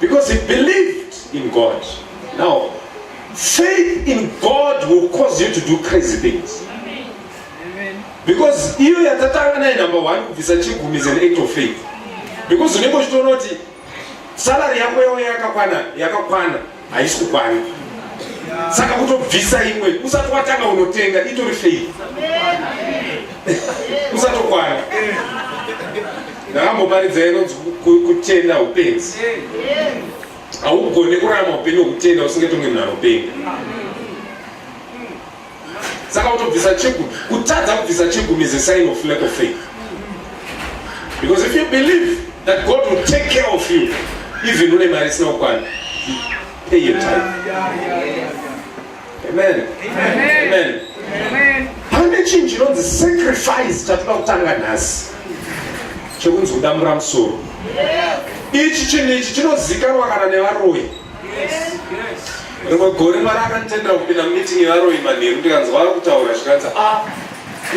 Because he believed in God. Now, faith in God will cause you to do crazy things. Because iyo yatatanga naye number one kubvisa chigumi is an act of faith. Because unenge uchitoona kuti salary yako yauya yakakwana yakakwana haisi kukwana saka kutobvisa imwe usati watanga unotenga itori faith usatokwana ndakamboparidza inonzi kutenda upenzi haugone kurama upenyu hwekutenda usingatonge munhu anopenga saka kutobvisa chigumi kutadza kubvisa chigumi is a sign of lack of faith because if you believe that god will take care of you even une mari isina kukwana pay your time amen amen pane chinhu chinonzi sacrifice chatoda kutanga nhasi chekunzi kudambura musoro ichi chinhu ichi chinozikanwa kana nevaroyi rimwe gore mwari akanditendera kupinda mumiting yevaroyi manheru ndikanzwa ari kutaura zvikanzi a ah,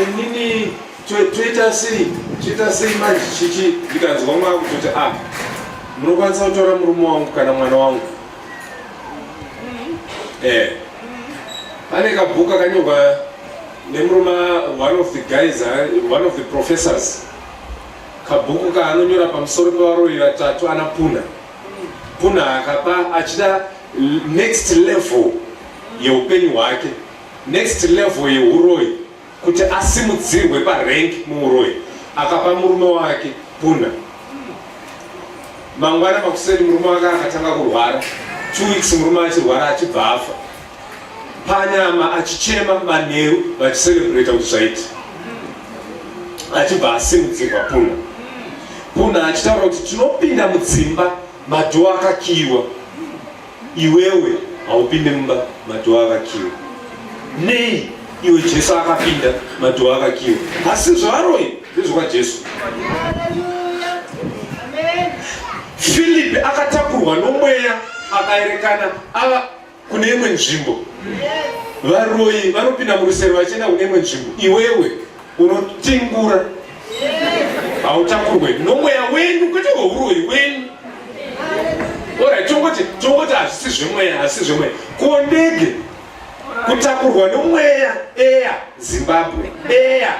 inini toita sei toita sei manje chichi ndikanzwa mwa kutoti a ah, munokwanisa kutora murume wangu kana mwana wangu e eh. pane kabhuku akanyorwa nemurume one of the guys eh, one of the professors kabhuku kaanonyora pamusoro pevaroyi vatatu anapuna kunaka pa achida next level yeupenyu hwake next level yeuroyi kuti asimudzirwe parank muuroyi akapa murume wake puna mangwana makuseni murume wake akatanga kurwara two weeks murume achirwara achibva afa panyama achichema manheru vachiserebreta kuti zvaiti achibva asimudzirwa puna puna achitaura kuti tinopinda mudzimba madhoo akakiiwa iwewe haupinde mumba madhoo akakiiwa nei iwe jesu akapinda madhoo akakiiwa asi zvaaroi ndezvokwajesu filipi akatakurwa nomweya akaerekana ava kune imwe nzvimbo varoyi vanopinda murusero vachienda kune imwe nzvimbo iwewe unotingura hautakurwe nomweya wenyu kwete kweuroyi wenyu ora tongoti tongoti hazvisi zvemweya hazvisi zvemweya ko ndege kutakurwa nomweya eya zimbabwe eya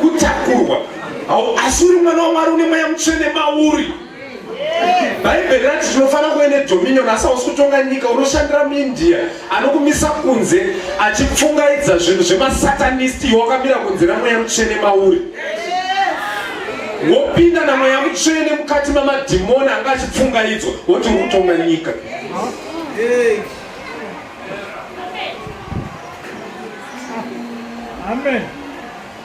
kutakurwa asi uri mwana wamwari une mweya mutsvene mauri bhaibheri rati tinofanira kuve nedominion asi hausi kutonga nyika unoshandira muindia anokumisa kunze achipfungaidza zvinhu zvemasatanist iwe wakamira kunze namweya mutsvene mauri wopinda namweya mutsvene mukati mamadhimoni anga achipfungaidzwa woti uri kutonga nyika Amen.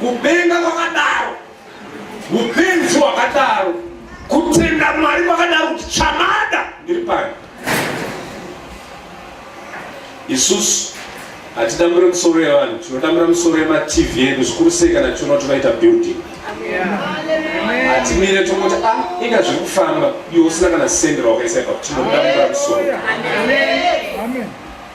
Kupenga kwakadaro, upenzi wakadaro, kutenda Mwari kwakadaro kuti chamada ndiri pano. Isusu hatitambure misoro yevanhu, tinotambura misoro yemaTV edu zvikuru sei kana tichiona kuti vaita building. Hatimire tongoti a ah, inga zviri kufamba iwe usina kana sendera wakaisa ipapo, tinotambura misoro. Amen.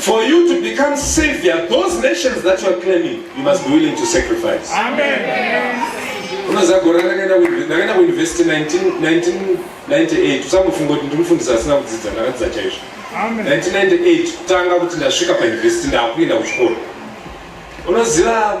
For you to become savior, those nations that you are claiming, you must be willing to sacrifice. Amen. unoziva gore randakaenda kuuniversity 1998 usangofunga kuti ndinofundisa asina kudzidza ndakadzidza chaizvo 1998 kutanga kuti ndasvika pauniversity ndakuenda kuchikoro unoziva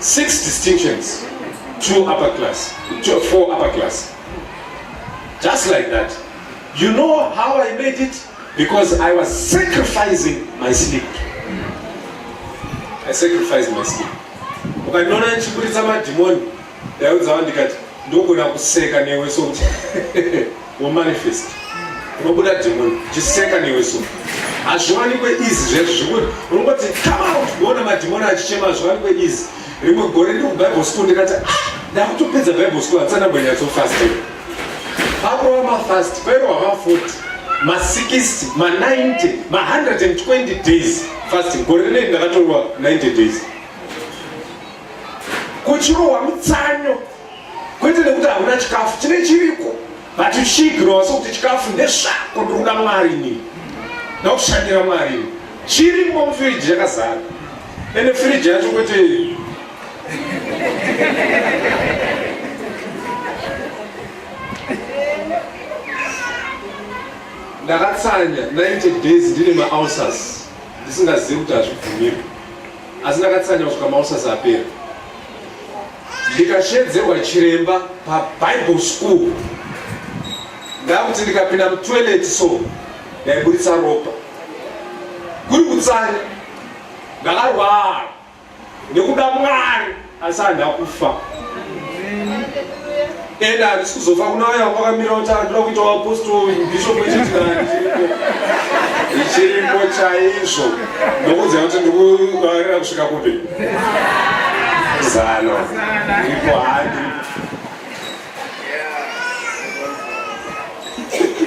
Six distinctions, two upper class, two, four upper class. Just like that. You know how I made it? Because I was sacrificing my sleep. I sacrificed my sleep. Ukandiona ndichiburitsa madhimoni, ndaudza vandikati ndogona kuseka newe sokuti Wamanifest unobuda demon chiseka newe so hazviwanikwe izi zvezvo zvekuti unongoti come out kuona madhimoni achichema hazviwanikwe izi rimwe gore ndi kubible school ndikati ah, ndakutopedza bible school hatisana mbonyatsofast pakurova mafast pairova mafoti ma60 ma90 ma120 days fasting gore rinei ndakatorwa 90 days kuchirohwa mutsanyo kwete nekuti hauna chikafu chine chiriko but uchiigirwa wase kuti chikafu ndezvako ndikuda mwari ini ndakushandira mwari ini chirimo mufiriji chakazara ende firiji yacho kwete ndakatsanya 90 days ndine maulcers ndisingazivi kuti hazvibvumirwe asi ndakatsanya kusvika maulcers apera ndikashedzerwa chiremba pabible school ndakuti ndikapinda mutoilet so ndaiburitsa ropa kuri kutsanya ndakarwara nekuda mwari asi handakufa Enda handisi kuzofa kuna vaya vakamira kuti anoda kuita waapostoli bishop ichitirani ichirimo chaizvo ndokuziva kuti ndikuvarira kusvika kupi zano ipo handi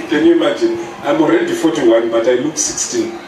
Can you imagine? I'm already 41, but I look 16.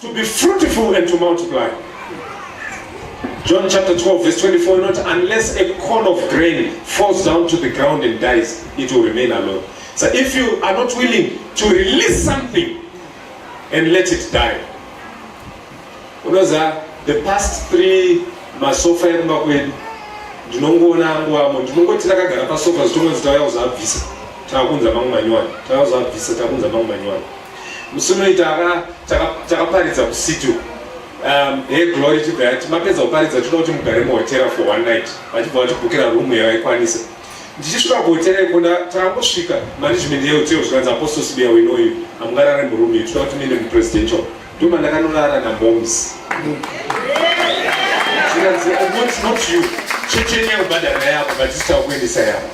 To be fruitful and to multiply. John chapter 12 verse 24 not unless a corn of grain falls down to the ground and dies it will remain alone. So if you are not willing to release something and let it die. Unoza the past three masofa ekumba kwedu ndinongoona angu amo ndinongoti rakagara pasofa zvitongonzi tauya kuzabvisa takunza mangu manyowani tauya kuzabvisa takunza mangu manyowani musi unoita takaparidza kusitu um, he glory chibva yati mapedza kuparidza tinoda kuti mugare muhotera for one night vachibva vatibhukira rumu yavaikwanisa ndichisvika kuhotera iko takangosvika management yehotera zvikanzi apostle sibiya winoyu hamungarare murumu iyo tinoda kuti muende mupresidential nduma ndakanorara namoms zvikanzi not you chechenyakubhadhara yako but zitakuendesa yako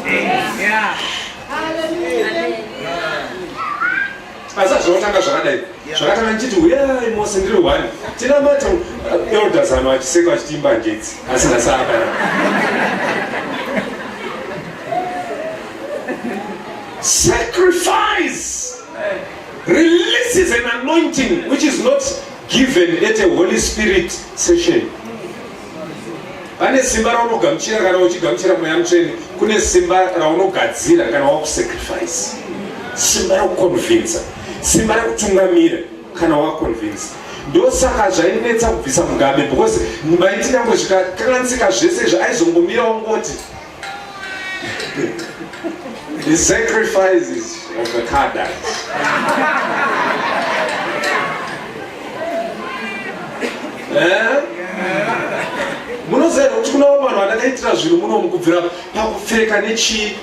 asi azvinotanga zvakadai zvakatanga ndichiti uyai mose ndiri one tinamata elders ano achiseka achitiimba ngetsi asina saka sacrifice releases an anointing which is not given at a holy spirit session pane simba raunogamuchira kana uchigamuchira mweya mutsvene kune simba raunogadzira kana wakusacrifice simba rekuconvinsa simba rekutungamira kana waconvinsa ndosaka zvainetsa kubvisa mugabe because maiti nyangwe zvikakansika zvese izvi aizongomira wangoti The sacrifices of the Kardashians. Eh? munoziva kuti kunawo vanhu vandakaitira zvinhu muno mukubvira pakupfeka nechii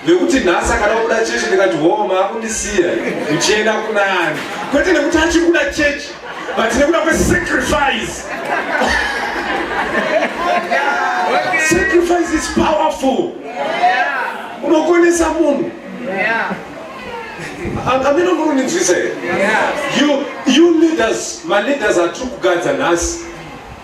nekuti nhasi akada kuda chechi ndikati hoo maakundisiya uchienda kunani kwete nekuti achiri kuda chechi but nekuda kwesacrifice sacrifice is powerful unokonesa munhu amene muruninzwisa here you leaders maleaders atiri kugadza nhasi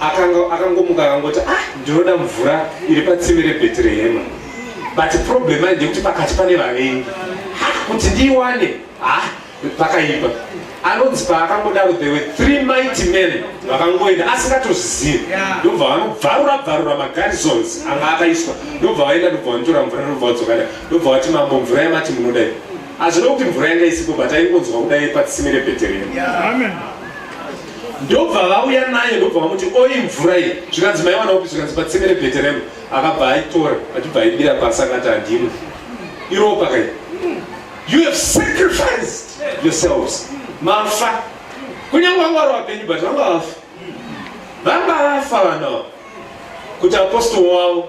akanga akangomuka akangoti ah ndinoda mvura iri patsime rebhetirehema but problem ai ndekuti pakati pane vavengi ha kuti ndiiwane ha pakaipa anonzi paakangodaro there were three mighty men vakangoenda asingatozvizivi ndobva vanobvarura bvarura magarisons anga akaiswa ndobva vaenda ndobva vanotora mvura ndobva vadzokada ndobva vati mambo mvura yamati munodai hazvino kuti mvura yanga isipo but aingonzwa kudai patsime rebhetirehema ndobva vauya naye ndobva vamuti oi mvura iyi zvikanzi maiwana upi zvikanzi patsime rebheteremu akabva aitora achibva aibira pasi akati handimwe iropa kai you have sacrificed yourselves mafa kunyange vanga vari vapenyu but vanga vafa vanga vafa vanawa kuti apostol wavo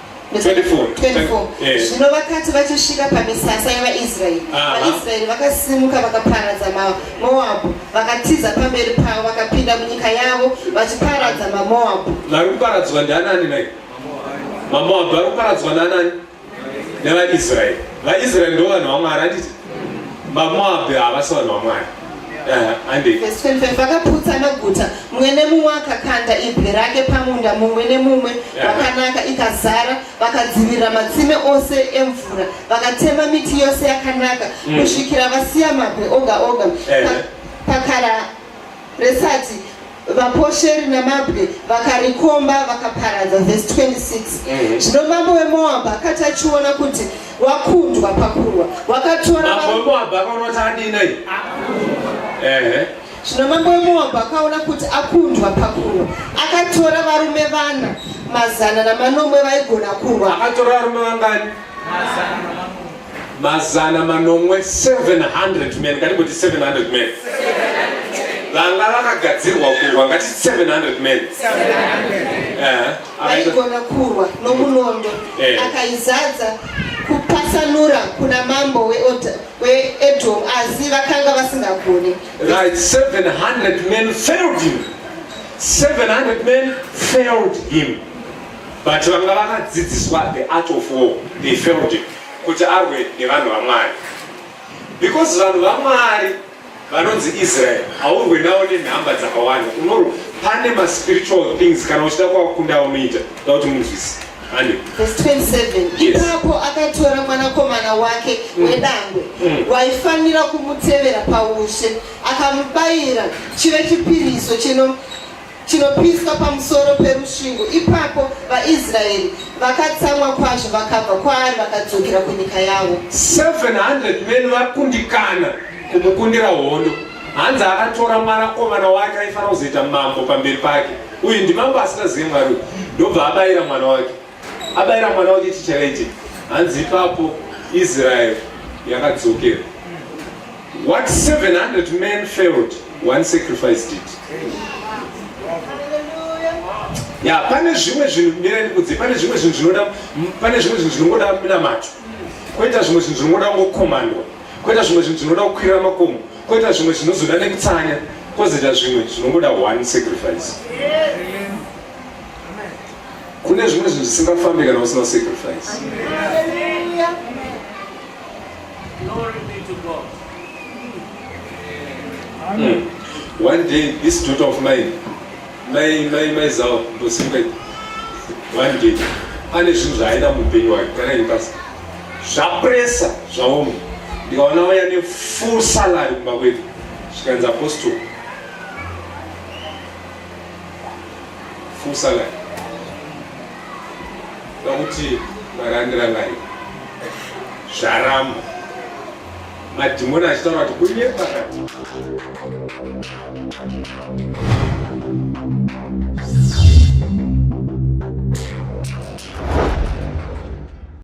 zvino vakati vachisvika pamisasa yevaisraeri vaisraeri vakasimuka vakaparadza mamoabhu vakatiza pamberi pavo vakapinda munyika yavo vachiparadza mamoabhu vari kuparadzwa ndianani nai mamoabhu vari kuparadzwa naanani nevaisraeri vaisraeri ndo vanhu vamwari anditi mamoabhu havasi vanhu vamwari Verse 25 vakaputsa maguta mumwe nemumwe akakanda ibwe rake pamunda mumwe nemumwe vakanaka ikazara vakadzivirira matsime ose emvura vakatema miti yose yakanaka mm. kusvikira vasiya mabwe oga oga pakara resati vaposheri nemabwe vakarikomba vakaparadza vhesi 26 mhm. zvino mm. mambo wemoabha akati achiona kuti wakundwa pakurwa wakatora zvino mambo wemoabha akaona kuti akundwa pakurwa akatora varume vana mazana namanomwe vaigona kurwa akatora varume vangani mazana manomwe 700 men ngatimboti 700 men vanga vakagadzirwa kurwa ngati 700 men aigona kurwa nomunondo eh. akaizadza kupasanura kuna mambo weedom asi vakanga vasingagoni right 700 men failed him 700 men failed him but vanga vakadzidziswa the art of war they failed it kuti arwe nevanhu vamwari because vanhu vamwari vanonzi israel haurwe nawo nenhamba dzakawanda unorwa pane maspiritual things kana uchida kwakunda unoita da kuti munzwisi ipapo akatora mwanakomana wake mm. wedangwe mm. waifanira kumutevera paushe akamubayira chive chipiriso chino chinopiswa pamusoro perusvingo. Ipapo vaIsraeri vakatsamwa kwazvo vakabva kwaari vakadzokera kunyika yavo. 700 men vakundikana kumukundira hondo. Hanzi akatora mwanakomana wake aifanira kuzoita mambo pamberi pake. Uyu ndimambo asingazivi Mwari uyu. Ndobva abayira mwana wake. abaira mwana wake chichallenge hanzi ipapo israel yakadzokera what 700 men failed one sacrifice did ya pane zvimwe zvinhu mirandikudzi pane zvimwe zvinhu zvinoda pane zvimwe zvinhu zvinongoda minamato koita zvimwe zvinhu zvinongoda kungokomandwa koita zvimwe zvinhu zvinoda kukwirira makomo koita zvimwe zvinozoda nekutsanya kozoita zvimwe zvinongoda one sacrifice yeah. Kune zvimwe zvinhu zvisingafambi kana usina sacrifice. Hmm. One day this daughter of mine mai mai mai zao ndosimuka one day ane zvinhu zvaaida muupenyu wake kana ini pasi zvapresa zvaoma ndikaona vaya ne full salary kumba kwedu zvikanzi apostol fusa ngai vakuti varandira ngai zvaramba madhimoni achitaura kuti kunye pakati